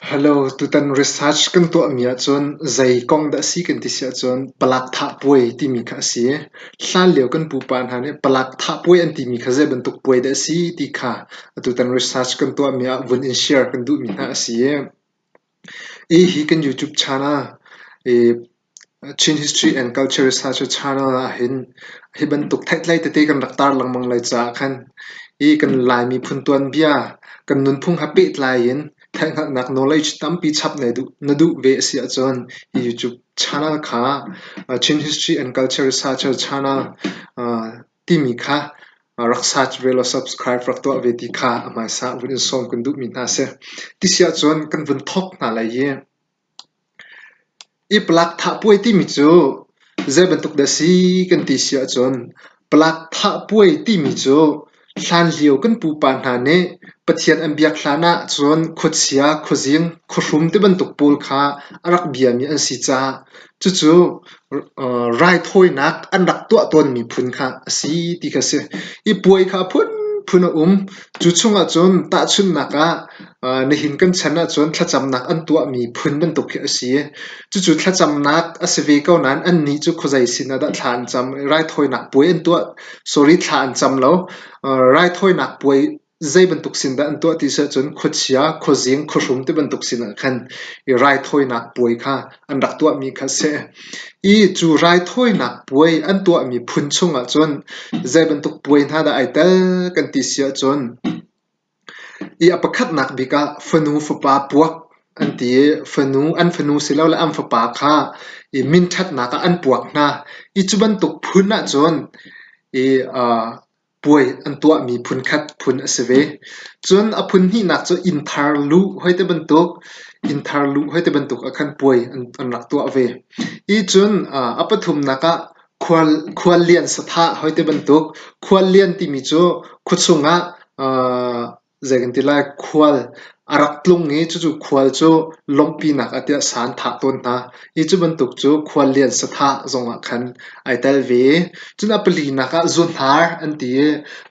Hello, tutan research kan tuahmi ahcun zei kong dah a si kan ti si ahcun palak thah puai timi kha a si. Hlanlio kan pupa hna nih palak thah puai an timi kha zei bantuk puai dah a si ti kha tutan research kan tuahmi ah vun in share kan duhmi hna a si. Hi hi kan YouTube channel i Chin History and Culture Research a channel ahhin hi bantuk theihtlei tete kan rak tar lengmang lai caah khan hi kan Lai miphun tuanbia kan nunphung ha pehtlai in theihhngalhnak knowledge tampi chap na duh ve a si ahcun hi YouTube channel kha Chin History and Culture Researcher Channel timi kha rak search ve law subscribe rak tuah ve ti kha a hmaisa vun in sawm kan duhmi hna a si. Ti si ahcun kan vun thawk hna lai i Iplak thahpuai timi cu zeibantuk dah si kan ti si ahcun plak thahpuai timi cu hlanlio kan pupa hna nih Pathian an biak hlan ahcun khuachia, khuazing, khuahrum tibantuk pawl kha a rak biami an si caah Cucu raithawinak an rak tuah tawnmi phun kha a si ti kha a si. I puai kha phunphun a um. Cu chungah cun tahchunhnak ah nihin kan chan ahcun thlacamnak an tuahmi phun bantuk khi a si. Cucu thlacamnak a si ve ko nain annih cu khuazei sin ah dah thla an cam? Raithawinak puai an tuah? Sorry, thla an cam lo. Raithawinak puai Zeibantuk sin dah an tuah ti sih ahcun khuachia, khuazing, khuahrum tibantuk sin ahkhan i raithawinak puai kha an rak tuahmi kha a si. I cu raithawinak puai an tuahmi phun chung ahcun zeibantuk puai hna dah ai tel kan ti si ahcun i a pakhatnak bik ah fanu fapa puak an ti i fanu, an fanu silole an fapa kha i minṭhatnak ah an puak hna. I cu bantuk phun ahcun i aa puai an tuahmi phunkhat phun a si ve. Cun a phun hnihnak cu innthar luh hoi ti bantuk, innthar luh hoi ti bantuk ah khan puai an rak tuah ve. Hi cun a pathumnak ah khual khuallian sathah hoi ti bantuk, khuallian timi cu khuachung ah Zeitintilai khual a rak tlung i cucu khual cu lawmhpinak ah tiah sa an thah tawn hna i cu bantuk cu khual lian sathah zongah khan ai tel ve i cun a palinak ah zuunhnar an ti i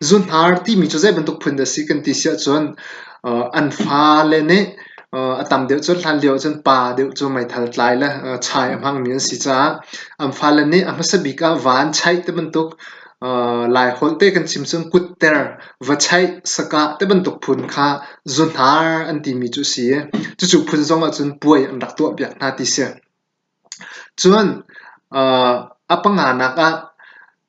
zuunhnar timi cu zeibantuk phun dah a si kan ti si ahcun an fale nih a tam deuh cun hlan lio ahcun pa deuh cu meithal tlai le chai a hmangmi an si caah an fale nih a hmasa bik ah van chaih tibantuk Laiholh te kan chim cun kutter, va chaih, sakah tibantuk phun kha zuhnar an timi cu a si i cucu phun zong ahcun puai an rak tuahpiak hna ti si. Cun a panganak ah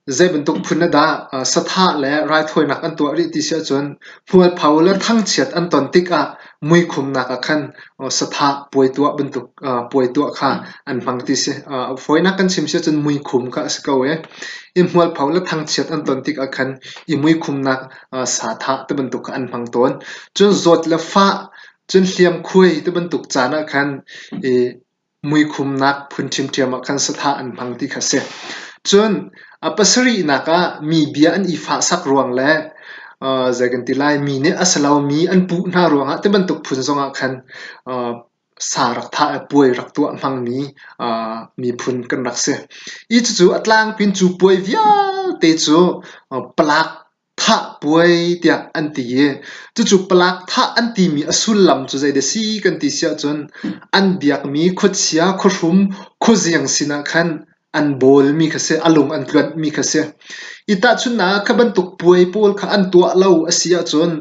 zeibantuk phun ah dah sathah le raithawinak an tuah rih ti si ahcun hmualpho le thangchiat an ton tikah muikhumnak ah khan sathah puai tuah bantuk puai tuah kha an hmang ti si. Fawinak kan chim si ahcun muikhum kha a si ko i i hmualpho le thangchiat an ton tikah khan i muikhumnak sathah ti bantuk kha an hmang tawn. Cun zawt le fah, cun hliamkhuai ti bantuk caan ah khan i muikhumnak phun ṭhiamṭhiam ah khan sathlah an hmang ti kha a si. Cun a pasarihnak ah mi bia an i fahsak ruang le uh, zei kan ti lai, mi nih a si lomi an puh hna ruangah ti bantuk phun zongah khan uh, sa rak thah le puai rak tuah hmangmi uh, miphun kan rak si. Hi cucu a tlangpin cu puai vialte cu uh, palak thah puai tiah an ti i cucu palak thah an timi a sullam cu zei dah si kan ti si ahcun an biakmi khuachia, khuahrum, khuaziang sinah khan an bawlmi kha si, a lung an tluanhmi kha si. I tahchunhnak kha bantuk puai pawl kha an tuah lo a si ahcun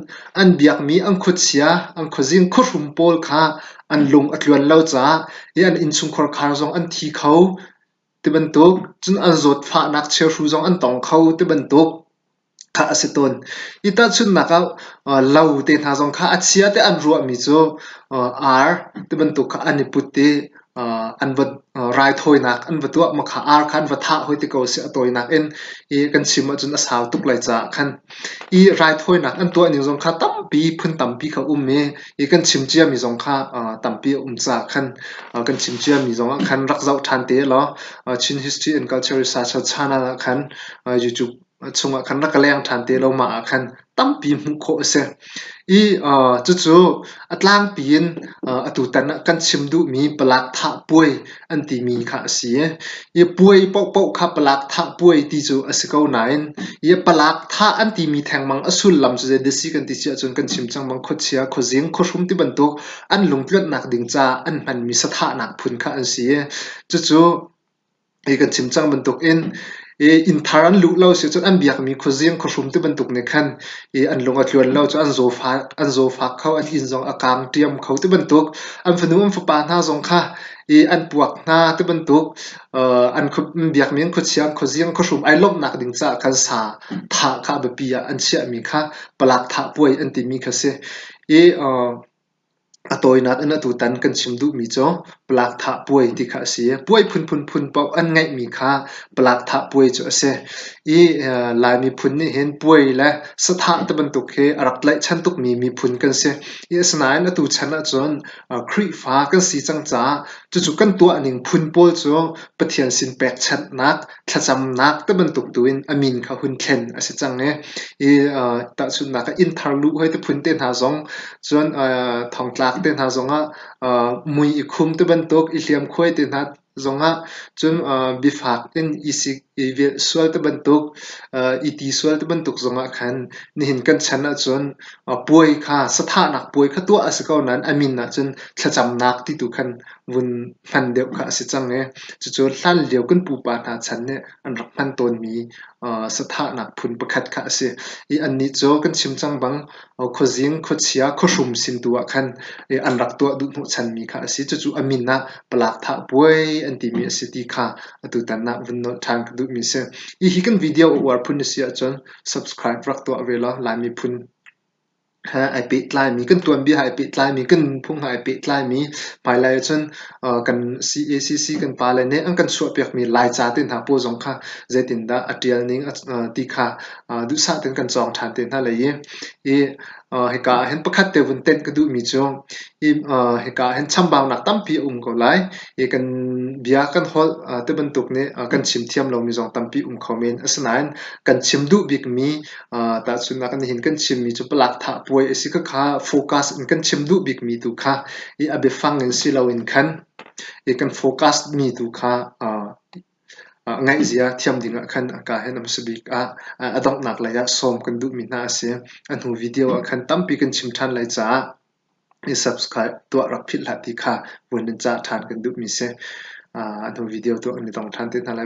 an biakmi an khuachia, an khuazing, khuahrum pawl kha an lung a tluan lo caah i an innchungkhar khar zong an thi kho. Tibantuk cun an zawtfahnak chiahru zong an tong kho tibantuk kha a si tawn. Hi tahchunhnak ah lo te hna zong kha a chia tiah an ruahmi cu ar tibantuk kha an i put i an va raithawinak an va tuah. Makha ar kha an va thah hoi ti ko a si. A tawinak in hi kan chim ahcun a sau tuk lai caah khan. Hi raithawinak an tuahning zong kha tampi phun tampi kha a um i i kan chim ciami zong kha tampi a um caah khan kan chim ciami zongah khan rak zoh ṭhan te law Chin History and Culture Research chanel ah khan YouTube chungah khan rak ka leng ṭhan te lo mah ah khan tampi hmuh khawh a si i cucu a tlangpi in atutan ah kan chim duhmi palak thah puai an timi kha a si. I puai paohpaoh kha palak thah puai ti cu a si ko nain i palak thah an timi thengmang a sullam cu zeidah a si kan ti cia ahcun kan chim cangmang khuachia, khuazing, khuahrum ti bantuk an lungtluannak ding ca an hmanmi sathahnak phun kha an si. Cucu hi kan chim cang bantuk in inn thar an luh lo sicun an biakmi khuazing khuahrum tibantuk nih khan an lung a tluan lo cu an zawfak kho an inn zong a kaang ṭiam kho tibantuk an fanu an fapa hna zong kha an puak hna tibantuk an biakmi an khuachiang khuazing khuahrum ai lawmhnak ding caah khan sa thah kha a biapi ah an chiahmi kha palak thah puai an timi kha a si i A tawinak in atutan kan chim duhmi cu palakthah puai ti kha a si. Puai phunphun phun paoh an ngeihmi kha palakthah puai cu a si i Lai miphun nih hin puai le sathah ti bantuk hi a rak tlaihchan tukmi miphun kan si i asinain atu chan ahcun Khrihfa kan si cang caah cucu kan tuahning phun pawl cu Pathian sin pekchanhnak thlacamnak tibantuk tuin a min kha hun thlen a si cang i i tahchunhnak ah inn thar lu hoi te phun te hna zong cun thongtlak te hna zongah mui i khum tibantuk i hliamkhuai te hna zongah cun bifak in i velh sual tibantuk i ti sual tibantuk zongah khan nihin kan chan ahcun puai kha sathahnak puai kha tuah a si ko nain a min ahcun thlacamnak ti tu khan vun hman deuh kha a si cang i cucu hlanlio kan pupa hna chan nih an rak hman tawnmi sathahnak phun pakhat kha a si i annih cu kan chim cang bang khuazing, khuachia, khuahrum sin tu ah khan an rak tuah duh hnawhchanmi kha a si cucu a min ah palakthah puai an timi a si ti kha atutan ah vun nolh ṭhan ka duhmi a si. Hihi kan video a uar phun a si ahcun subscribe rak tuah ve law Laimi phun he ai pehtlaimi, kan tuanbia he ai pehtlaimi, kan nunphung he ai pehtlaimi hmailai ahcun kan CACC kan pale nih an kan chuahpiakmi Laica te hna pawl zong kha zeitindah a ṭialning ti kha duhsah tein kan cawng ṭhan te hna lai i hi hika ahhin pakhat te vun tenh ka duhmi cu hi hika ahhin chambaunak tampi a um ko lai i kan bia kan holh ti bantuk nih kan chim thiam lomi zong tampi um kho men. Asinain kan chim duh bikmi Tahchunhnak in nihin kan chimmi cu palakthah puai a si khakha focus in kan chim duh bikmi tu kha i a biafang in si loin khan i kan focus mi tu kha ngaihzia thiam dingah khan a ka hin a hmasa bik ah a donghnak lei ah sawm kan duhmi hna a si. A hnu video ah khan tampi kan chim ṭhan lai caah i subscribe tuah rak philh hlah ti kha vun in cah ṭhan kan duhmi si. A hnu video tu an i tong ṭhan te hna lai.